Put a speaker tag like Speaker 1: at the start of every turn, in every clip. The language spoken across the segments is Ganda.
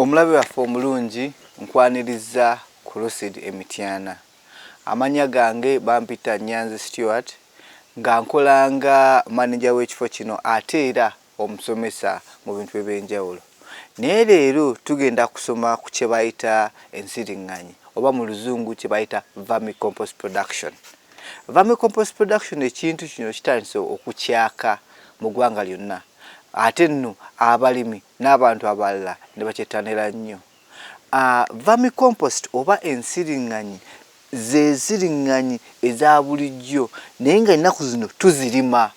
Speaker 1: omulabe waffe omulungi nkwaniriza ku lucid emityana amanya gange bampita nyanzi stewart nga nkolanga maneja w'ekifo kino ate era omusomesa mu bintu eby'enjawulo naye leero tugenda kusoma ku kye bayita ensiring'anyi oba mu luzungu kye bayita vermicompost production. Vermicompost production ekintu kino kitandise okukyaka mu ggwanga lyonna ate nno abalimi n'abantu abalala ne bakyettanira nnyo. Uh, vermicompost oba ensiring'anyi z'ensiring'anyi eza bulijjo naye nga ennaku zino tuzirima.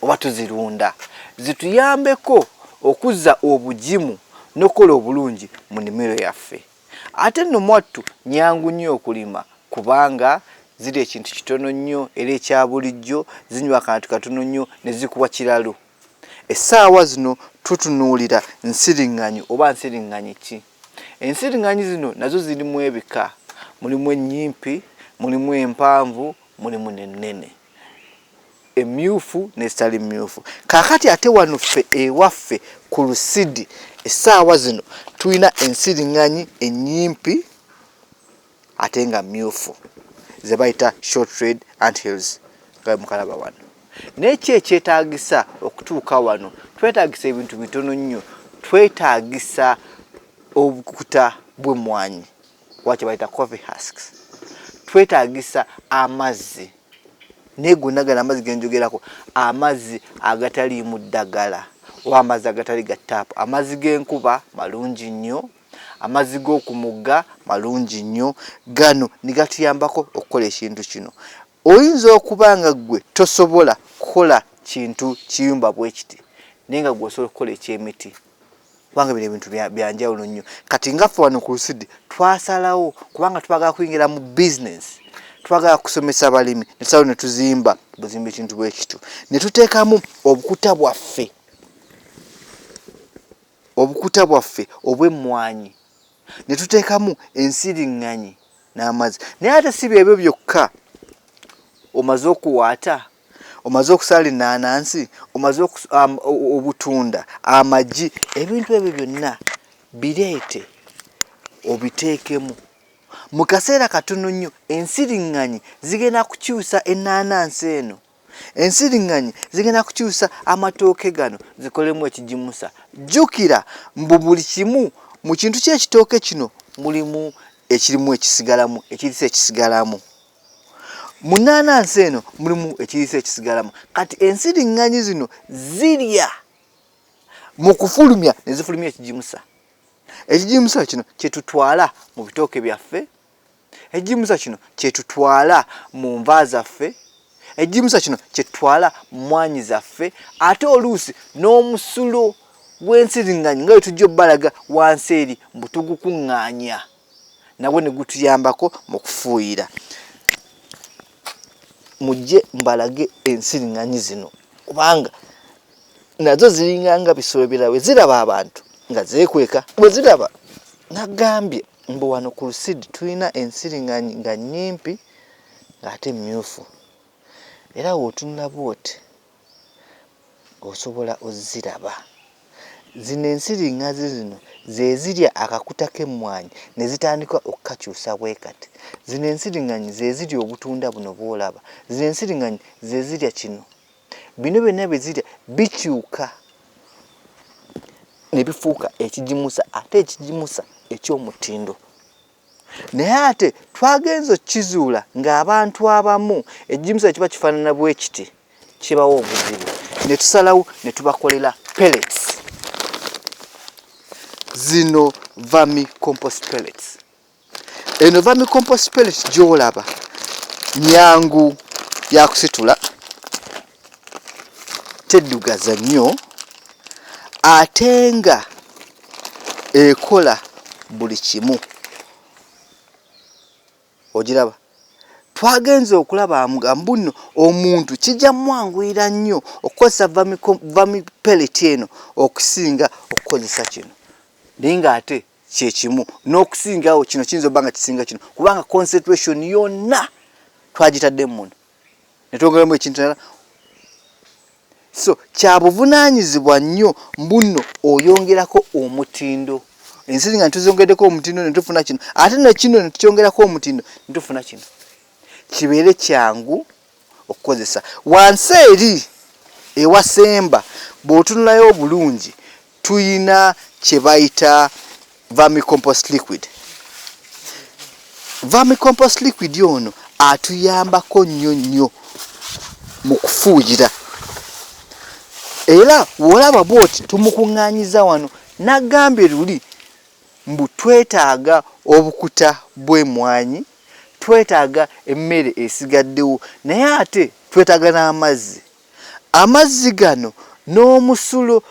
Speaker 1: oba tuzirunda zituyambeko okuzza obugimu n'okukola obulungi mu nnimiro yaffe. Ate nno mwattu nnyangu nnyo okulima kubanga zirya ekintu kitono nnyo era ekya bulijjo, zinywa akantu katono nnyo ne zikuwa kiralu. Essaawa zino tutunuulira nsiriŋŋanyi oba nsiriŋŋanyi ki? Ensiriŋŋanyi zino nazo zirimu ebika, mulimu ennyimpi, mulimu empanvu, mulimu n'ennene. emmyuufu n'ezitali mmyuufu. Kaakati ate wano ffe ewaffe ku Lusidi essaawa zino tulina ensiring'anyi ennyimpi ate nga mmyuufu ze bayita short red ant hills nga bwe mukalaba wano. Naye ki ekyetaagisa okutuuka wano? Twetaagisa ebintu bitono nnyo. Twetaagisa obukuta bw'emmwanyi oba kye bayita coffee husks. Twetaagisa amazzi. naye gonna gala amazzi genjogerako amazzi agataliimu ddagala oba amazzi agatali ga taapu amazzi g'enkuba malungi nnyo amazzi g'oku mugga malungi nnyo gano ne gatuyambako okukola ekintu kino oyinza okuba nga ggwe tosobola kukola kintu kiyumba bwe kiti naye nga gwe osobola okukola eky'emiti kubanga bino ebintu byanjawulo nnyo kati nga ffe wano ku lusidi twasalawo kubanga twagala kuyingira mu bizinesi twagala kusomesa balimi nesalawo netuzimba buzimba ekintu bwekityo netuteekamu obukuta bwaffe obukuta bwaffe obw'emmwanyi netuteekamu ensiriŋŋanyi n'amazzi naye ate si byebyo byokka omaze okuwaata omaze okusaala ennaanansi omaze obutunda amagi ebintu ebyo byonna bireete obiteekemu mu kaseera katono nnyo ensiriŋŋanyi zigenda kukyusa ennaanansi eno ensiriŋŋanyi zigenda kukyusa amatooke gano zikolemu ekigimusa jjukira mbu buli kimu mu kintu ky'ekitooke kino mulimu ekirimu ekisigalamu ekirisa ekisigalamu mu nnaanansi eno mulimu ekiriisa ekisigalamu kati ensiriŋŋanyi zino zirya mu kufulumya ne zifulumya ekigimusa ekigimusa kino kye tutwala mu bitooke byaffe ekigimusa kino kye tutwala mu nva zaffe ekigimusa kino kye tutwala mu mwanyi zaffe ate oluusi n'omusulo gw'ensiriŋŋanyi nga bwe tujja obbalaga wansi eri mbu tugukuŋŋaanya nagwo ne gutuyambako mu kufuuyira. Mujje mbalage ensiriŋŋanyi zino kubanga nazo ziringa nga bisolo birala bwe ziraba abantu nga zeekweka bwe ziraba nagambye mbu wano ku lusidi tulina ensiriŋŋanyi nga nnyimpi ng'ate mmyufu era wootunula bwoti. osobola oziraba. Zino ensiriŋŋazi zino ze zirya akakuta k'emmwanyi ne zitandika okukakyusa bwe kati. Zino ensiriŋŋanyi ze zirya obutunda buno bw'olaba. Zino ensiriŋŋanyi ze zirya kino. Bino byonna bye zirya bikyuka ne bifuuka ekigimusa ate ekigimusa eky'omutindo. Naye ate twagenze okizuula ng'abantu abamu egimusa ekiba kifaanana bwe kiti kibawa obuzibu ne tusalawo ne tubakolera pellets zino vami compost pellets eno vami compost pellets gy'olaba nyangu yakusitula teddugaza nnyo ate nga ekola buli kimu ogiraba twagenze okulaba mbuno omuntu kijja mwanguyira nnyo okukozesa vamipeleti eno okusinga okukozesa kino naye nga ate kyekimu n'okusingawo kino kiyinza obba nga kisinga kino kubanga concentration yonna twagitadde muno ne twongeramu ekintu nala so kyabuvunaanyizibwa nnyo mbunno oyongerako omutindo ensi nga netuzongeddeko omutindo netufuna kino ate nekino netukyongerako omutindo netufuna kino kibeere kyangu okukozesa wansi eri ewasemba bw'otunulayo obulungi Tuyina kyebayita vermicompost liquid. Vermicompost liquid ono atuyambako nnyo nnyo mu kufuuyira era wolaba bwoti tumukuŋŋaanyiza wano nagambye luli mbu twetaaga obukuta bw'emwanyi twetaaga emmere esigaddewo naye ate twetaaga n'amazzi Amazzi gano n'omusulo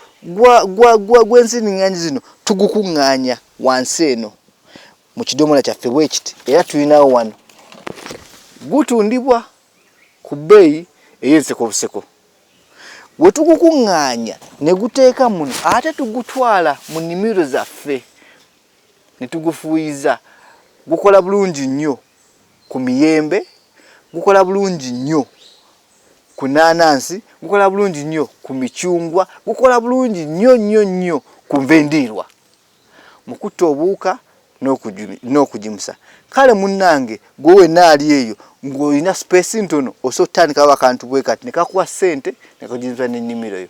Speaker 1: gw'enziringanyi zino tugukuŋŋaanya wansi eno mu kidomola kyaffe bwe kiti era tulinawo wano. Gutundibwa ku bbeeyi ey'enseko obuseko. We tugukuŋŋaanya ne guteeka muno ate tugutwala mu nnimiro zaffe ne tugufuuyiza. Gukola bulungi nnyo ku miyembe, gukola bulungi nnyo. ku naanansi, gukola bulungi nnyo ku micungwa, gukola bulungi nnyo nnyo nnyo ku nva endiirwa mu kutta obuwuka n'okugimusa. Kale munnange gwe wenna ali eyo ng'olina sipeesi ntono osobola okutandikawo akantu bwe kati ne kakuwa ssente ne kagimusa n'ennimiro yo.